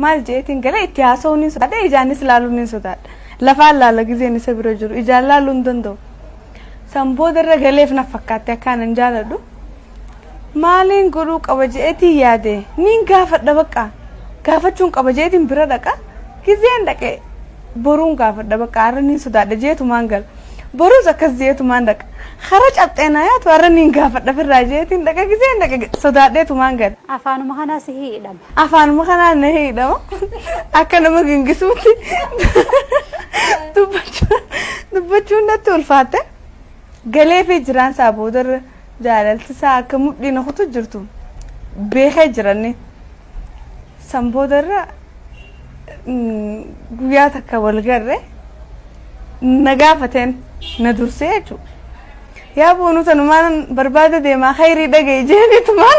maal jeetiin galee itti haasa'uun hin sodaadha ijaanis laaluun hin sodaadha lafaan laala gizeen isa bira jiru ijaan laaluu hin danda'u san booda irra galeef na fakkaatte akkaan hin jaaladhu maaliin godhuu qaba jeetii yaade niin gaafadha baqa gaafachuun qaba jeetiin bira dhaqa gizeen dhaqe boruun gaafadha baqa har'a niin sodaadha jeetumaan gala boruus akkas jeetumaan dhaqa hara cabxeenaa yaatu har'a niin gaafadha firraa jeetiin dhaqa gizeen dhaqa sodaadheetumaan gala. Afaanuma kanaa sihii hidhame. Afaanuma kanaan na hiidhama. Akka nama gingisuutti dubbachuu- dubbachuun natti ulfaatte. Galee fi jiraan isaa boodarra jaalalti isaa akka mudhii na kutu jirtu beekee jiranni. San boodarra mm, guyyaa takka wal garre na gaafateen na dursee jechuudha. Yaa boonuu tanumaan barbaada deemaa khayrii dhaga'i jeeni tumaan.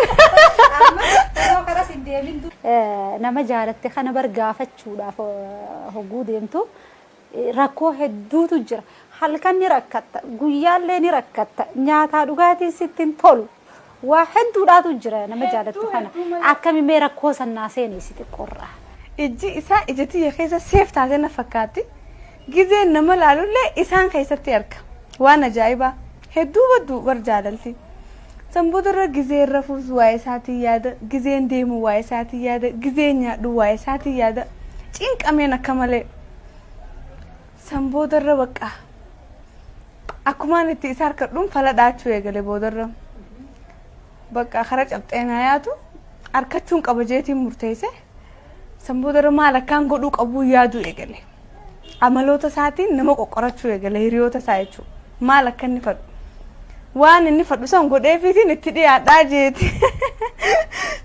Yeroo kanas hin deemin dur. Eh, nama jaalatte kana bar gaafachuudhaaf eh, hogguu deemtu eh, rakkoo hedduutu jira. Halkan ni rakkatta, guyyaallee ni rakkatta, nyaataa dhugaatiin sitti hin tolu. Waa hedduudhaatu jira nama jaalattu kana akkami mee rakkoo san naa seeneessi xiqqoorraa. Ijji isaa ija tiyya keessa seef taatee na fakkaatti. Gizeen nama laalullee isaan keessatti arga. Waan ajaa'ibaa. Hedduu baddu bar jaalalti. San boodarra gizeen rafuus waa'ee isaatiin yaada, gizeen deemu waa'ee isaatiin yaada, gizeen nyaadhu waa'ee isaatiin yaada. Cinqameen akka malee. San boodarra bakka akkumaan itti isa harkadhuun fala dhaachuu eegale boodarra bakka kara cabxee naa yaatu harkachuun qaba jeetiin murteesse san boodarra maal akkaan godhuu qabuu yaaduu eegale amaloota isaatiin nama qoqqorachuu eegale hiriyoota isaa jechuudha maal akka inni fadhu waan inni fadhu san godheefiitiin itti dhiyaadhaa jeeti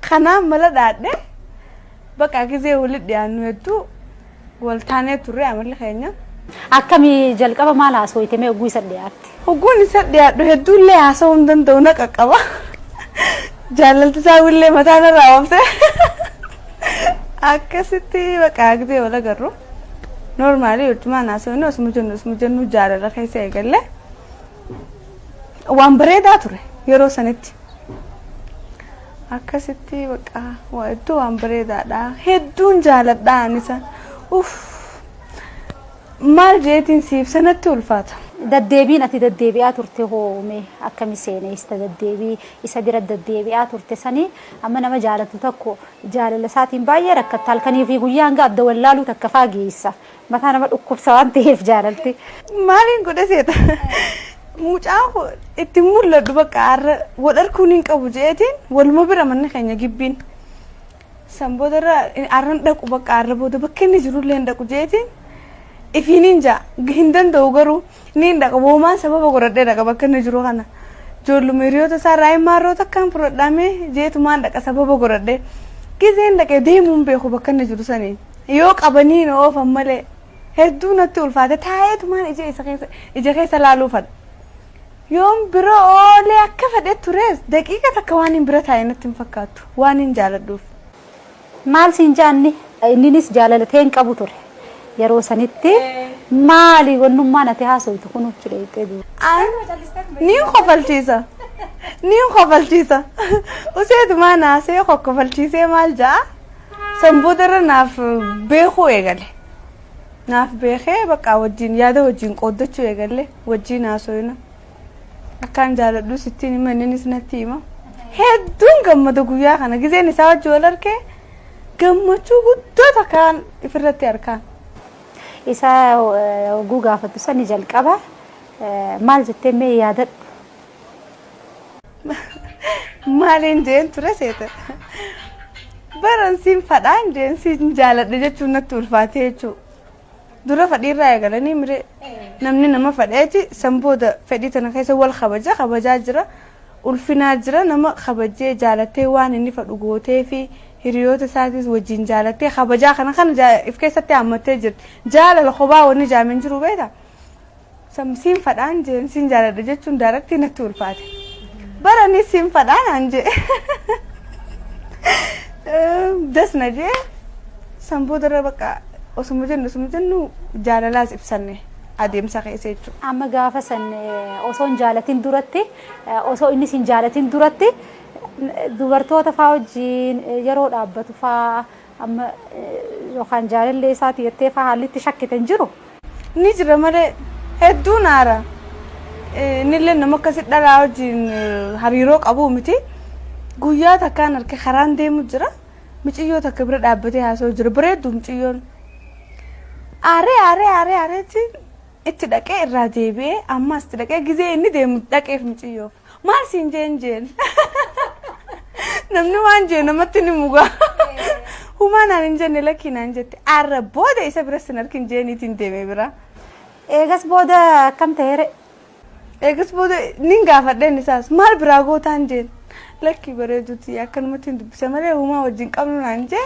kanaan mala dhaadhee bakka gizee walitti dhiyaannu hedduu Wal taanee turre amalli keenya. Akkami jalqaba maal haasooyte mee ogguu isa dhiyaatte? Ogguun isa dhiyaadhu hedduullee haasa'uu hin danda'u na qaqqaba. Jaalalti isaa illee mataa na raawwamte. Akkasitti baqa agdee wal agarru. Noormaalii hojjumaan haasa'uun osuma jennu osuma jennu jaalala keessa eegalle. waan bareedaa ture yeroo sanitti akkasitti baqa waa hedduu waan bareedaadha hedduun jaaladha anisa uff maal jeetiin siif sanatti ulfaata. Daddeebiin ati daddeebi'aa turte hoome akkami seeneessa daddeebii isa bira daddeebi'aa turte sanii amma nama jaalatu tokko jaalala isaatiin baay'ee rakkatta halkanii fi guyyaa hanga adda wallaaluu takka faageessa Mataa nama dhukkubsa waan ta'eef jaalalti. Maaliin godhe seeta? Mucaan koo itti mul'adhu bakka har'a wal arkuun hin qabu jeetiin waluma bira manni keenya gibbiin. San booda irra har'a hin dhaqu bakka har'a booda bakka inni jirullee hin dhaqu jeetiin ifiin hin ja'a hin danda'u garuu ni hin dhaqa woomaan sababa godhadhee dhaqa bakka inni jiru kana. Ijoolluma hiriyoota isaa irraa hin maarroo takkaan fudhadhaamee jeetumaan dhaqa sababa godhadhee. Gizeen dhaqee deemuun beeku bakka inni jiru saniin. Yoo qabanii na oofan malee hedduu natti ulfaate taa'eetumaan ija isa keessa ija keessa laaluu fadha. Yoon bira oolee akka fedhe tures daqiiqa takka waan hin bira taa'e natti hin fakkaattu waan hin jaaladhuuf. Maal siin jaanni inninis jaalalatee hin qabu ture. Yeroo sanitti maali wannummaa nati haasoftu kun uchi dheeyxee duuba. An niin kofalchiisa. Niin kofalchiisa. Useetumaan haasee kokkofalchiisee maal ja'a? San boodarra naaf beekuu eegale. Naaf beekee bakka wajjin yaada wajjin qooddachuu eegalle wajjin haasofna. Akkaan jaaladhu sittiin hima inninis natti hima. Hedduun gammada guyyaa kana gizeen isaa wajji wal argee gammachuu guddoo takkaan ifirratti arkaan. Isa oguu gaafattu sani jalqaba maal jettee mee yaadadhu. Maaliin jeen ture seeta. Baran siin fadhaan jeen siin jaaladha jechuun natti ulfaatee jechuudha. Dura fadhiirraa eegalanii miree namni nama fadheeti san booda fedhii tana keessa wal kabaja kabajaa jira. Ulfinaa jira nama kabajee jaalattee waan inni fadhu gootee fi hiriyoota isaatis wajjin jaalattee kabajaa kana kana jaa- if keessatti hammattee jirti. Jaalala kophaa wanni jaameen jiru beektaa? Some Sinfadhaan jeen sin jaaladha jechuun daaraktii natti ulfaate. Bara ni sinfadhaan aan jee. Das na jee. San boodarra bakka osuma jennu osuma jennu jaalalaas ibsanne adeemsa keessa jechuudha. Amma gaafa san eh, osoo hin jaalatin duratti eh, osoo innis hin jaalatin duratti eh, dubartoota faa wajjin eh, yeroo dhaabbatu faa Amma yookaan jaalallee isaati jettee faa haalli itti shakkite hin jiru? Ni jira malee hedduun aara. Innillee nama akkasi dhalaa wajjin hariiroo qabuu miti. Guyyaa takkaan arke karaan deemu jira. Miciyyoo takka bira dhaabbatee haasa'u jira. Bareeddu miciyyoon. Aaree aaree aaree aareetiin itti dhaqee irraa deebi'ee ammaas itti dhaqee gizee inni deemu dhaqeef miciyyoof. Maal siin jeen jeen. Namni waan jee namatti ni mugaa. Humaa naan hin jenne lakkii naan jette. Arra booda isa bira sin arkin jeeniitiin deemee bira. Eegas booda akkam ta'eere? Eegas booda nin gaafadheen isaas maal biraa gootaan jeen. Lakkii bareeduuti akkanumatti hin dubbise malee humaa wajjin qabnu naan jee.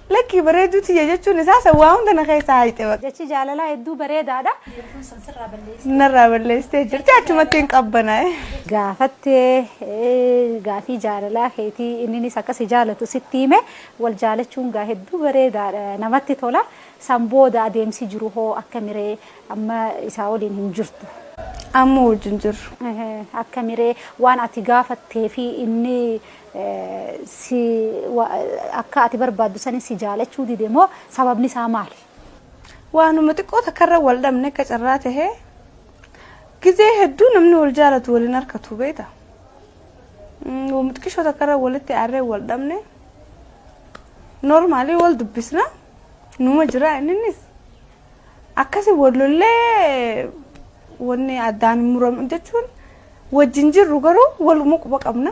Lakkii bareedduu tiyya jechuun isaa san waa hunda na keessaa hayxe baqa. Jechi jaalalaa hedduu bareedaadha. Jechuun sun sirraa balleessitee. Narraa balleessitee jirti achumatti hin qabbanaa'e. Gaafattee gaafii jaalalaa keetii inninis akka si jaalatu sitti hime wal jaalachuun gaa hedduu bareedaadha namatti tola san booda adeemsi jiru hoo akkamiree amma isaa waliin hin jirtu. Amma wajjin jirru. Akkamiree waan ati gaafattee fi inni si wa, akka ati barbaaddu sani si jaalachuu dide moo sababni isaa maali? Waanuma xiqqoo takkarra wal dhabne akka carraa tahee gizee hedduu namni wal jaalatu wal hin harkatu beekta. Mm, Waanuma xiqqishoo takkarra walitti aarree wal dhabne normaalii wal dubbisna numa jira inninis akkasi wal lollee wanni addaan hin muramu jechuun wajjin jirru garuu waluma quba qabna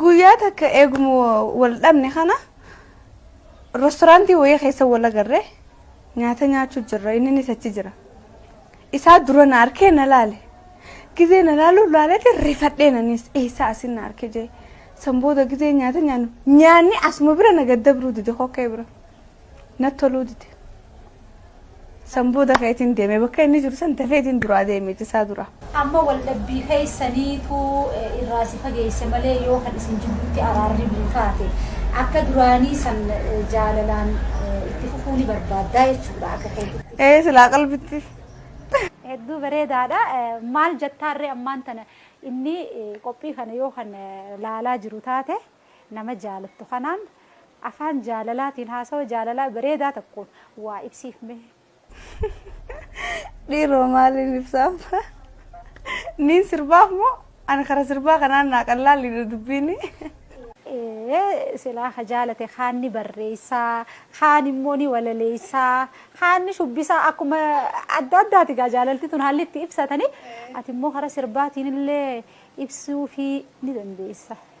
Guyyaa takka eeguma wal dhabne kana restooraantii wayii keessa wal agarre nyaata nyaachuu jirra inninis achi jira. Isaa dura na arkee na laale. Gizee na laaluuf laalete rifadheen anis eessaa asin na arke jee. San booda gizee nyaata nyaannu nyaanni asuma bira na gaddabruu dide kokkee bira. Natti toluu dide. San booda ka'eetiin deeme. Bakka inni jiru san dafeetiin duraa deeme cisaa dura. Amma waldhabbii keessaniitu irraa si fageesse malee yoo kan isin jidduutti araarri bu'u taate akka duraanii san jaalalaan itti fufuu ni barbaaddaa jechuudha akka keetitti. Ee silaa qalbitti. Hedduu bareedaadha. Maal jettaarree ammaan tana inni qophii kana yoo kan laalaa jiru taate? Nama jaalattu kanaan afaan jaalalaatiin haasawa jaalalaa bareedaa tokkoon waa ibsiif mee. Dhiiroo maaliin ibsaaf? Niin sirbaaf moo ani kara sirbaa kanaan naa qallaalliidha dubbiini. Ee silaa ka jaalate kaan ni barreessa, kaan immoo ni walaleessa, kaan ni shubbisa akkuma adda addaati egaa jaalalti tun haalli itti ibsatanii ati immoo kara sirbaatiin illee ibsuufii ni dandeessa.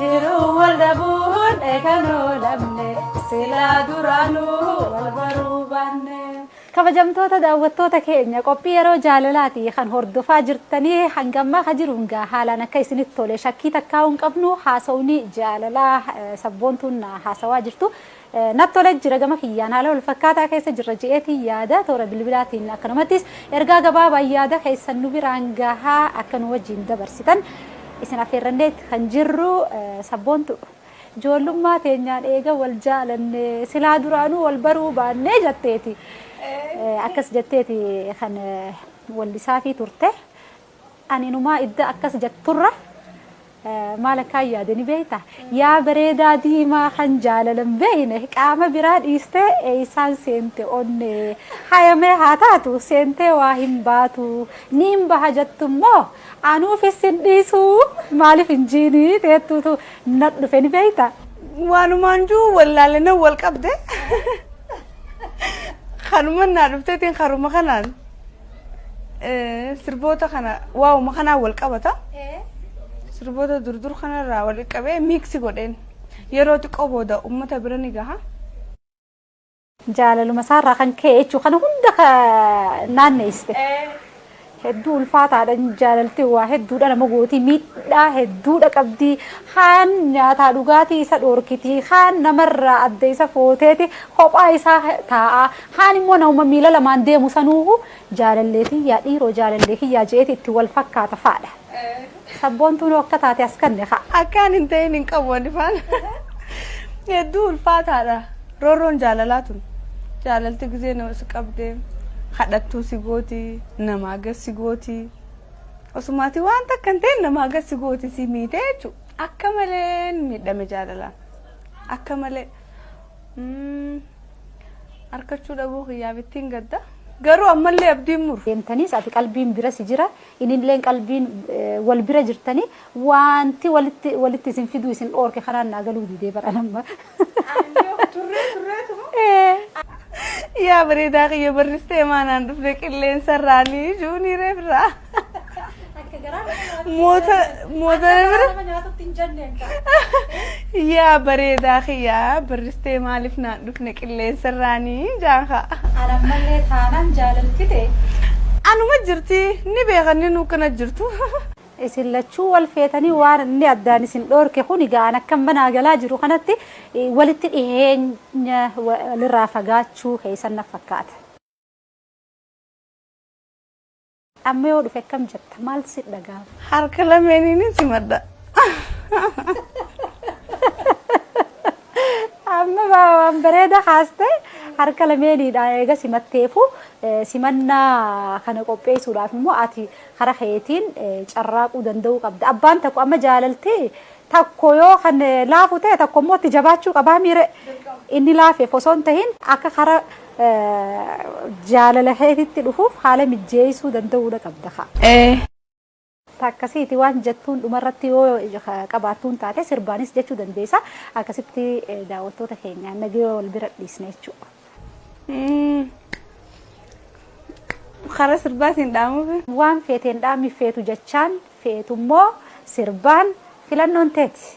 Jiruu wal dhabuun eegan oolamne silaa duraanuu wal baruu baanne. Kabajamtoota daawwattoota keenya qophii yeroo jaalalaati kan hordofaa jirtanii hanga ammaa ka jiruun gaa haalaan akka isinitti tole shakkii takkaa'uu hin qabnu haasawni jaalalaa sabboontuun haasawaa jirtu Nat tola jira gama kiyyaan haala wal fakkaataa keessa jirra je'eetiin yaada toora bilbilaatiin akkanumattis ergaa gabaabaan yaada keessan nu biraan gahaa akka nu wajjiin dabarsitan isin affeerranneet kan jirru sabboontu joollummaa teenyaan eega wal jaalanne silaa duraanuu wal baruu baannee jatteeti akkas jatteeti kan wallisaafii turte Ani inumaa idda akkas jatturra maal akkaan yaade ni beekta? Yaa bareedaa diimaa kan jaalala hin beekne qaama biraa dhiistee eessaan seente onnee? Hayamee haa taatu seentee waa hin baatu niin baha jattu immoo anuufis sin dhiisu maaliif hin jiini teettuutu nat dhufe ni beekta? Waanumaan jiru wallaale nan wal qabde kanuman naa dhufteetiin karuma kanaan. sirboota kana waa'uma kanaan wal qabata. Sirboota durdur kanarraa wal qabee miiksi godheen yeroo xiqqoo booda uummata bira ni gaha. Jaalaluma isaarraa kan ka'e jechuu kana hunda naanneessite. Hedduu ulfaataadha jaalalti waa hedduudha nama gootii miidhaa hedduudha qabdi. Kaan nyaataa dhugaatii isa dhoorkiti. Kaan namarraa adda isa footeeti kophaa isaa taa'aa. Kaan immoo namuma miila lamaan deemu sanuuhu jaalallee tiyyaa dhiiroo jaalallee kiyyaa je'eeti itti wal fakkaata fa'adha. Sabboontuunuu akka taate as kanne ka'a. Akkaan hin ta'in hin qabu ani faan. Hedduu ulfaataadha. Roorroon jaalalaa tun. Jaalalti gizee nama si qabde kadhattuu si gooti namaa gad si gooti. Osumaatii waan takka hin ta'in namaa gad si gooti si miite jechuudha. Akka malee miidhame jaalalaan. Akka malee. Arkachuu dhabuu kiyyaaf ittiin gadda. Garuu ammallee abdiin muru. Deemtaniis ati qalbiin bira si jira inilleen qalbiin wal bira jirtanii wanti walitti walitti isin fiduu isin dhoorke kanaan naa galuu didee bara namma. Turree turreetuma. Yaa bareedaa kiyya barristee maanaan dhufne qilleensa irraanii juunii reefirraa. Akka garaa nama Moota moota bira. nama nyaatutti hin jenneen ta'a. Yaa bareedaa kiyyaa barristee maaliif naan dhufne qilleensarraanii jaanka. Ana ammallee taanaan jaalalti ta'e. Anuma jirti ni beekan ni nuukkana jirtu. Isin lachuu wal feetanii waan inni addaan isin dhoorke kun egaa an akkan banaa galaa jiru kanatti eh, walitti dhiheenya walirraa fagaachuu keessan na fakkaata. Amma yoo dhufe akkam jetta? Maal si dhaga'ama? Harka lameeniin simadha. Amma waa- waan bareeda haaste harka lameeniidha eega simatteefu eh, simannaa kana qopheessuudhaaf immoo ati karaa keetiin eh, carraaquu danda'uu qabda. Abbaan tokko amma jaalaltee tokko yoo kan eh, laafu ta'e tokko immoo itti jabaachuu qabaa miire inni laafeef osoo hin tahin akka karaa Jaalala keetitti dhufuuf haala mijjeessuu danda'uudha qabda kaa. Ee. Akkasiiti waan jettuun dhumarratti yoo qabaattuun taate sirbaanis jechuu dandeessa. Akkasitti daawwattoota keenya nagayoo wal bira dhiisna jechuudha. Karaa sirbaatiin dhaamuufi. Waan feeteen dhaami feetu jechaan feetummoo sirbaan filannoon teeti.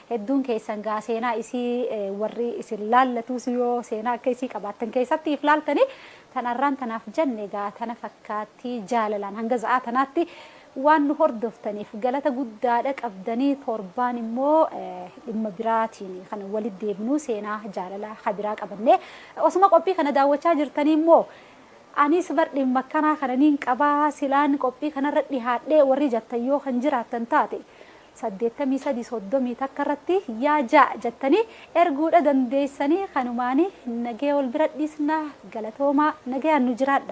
Hedduun keessan gaa seenaa isii warri isin laallatuus yoo seenaa akka isii qabaattan keessatti if laaltanii tan arraan tanaaf janne gaa tana fakkaatti jaalalaan hanga za'aa tanaatti waan nu hordoftaniif galata guddaadha qabdanii torbaan immoo dhimma biraatiin kan walit deebinuu seenaa jaalala habiraa qabannee osuma qophii kana daawwachaa jirtanii immoo anis bar dhimma akkanaa kana niin qabaa silaan qophii kanarra dhihaadhee warri jattan yoo kan jiraattan taate saddeettamii sadii soddomii takka irratti yaa ja jattanii erguudha dandeessanii kanumaani nagaya wal bira dhiisna galatoomaa nagayaan nu jiraadha.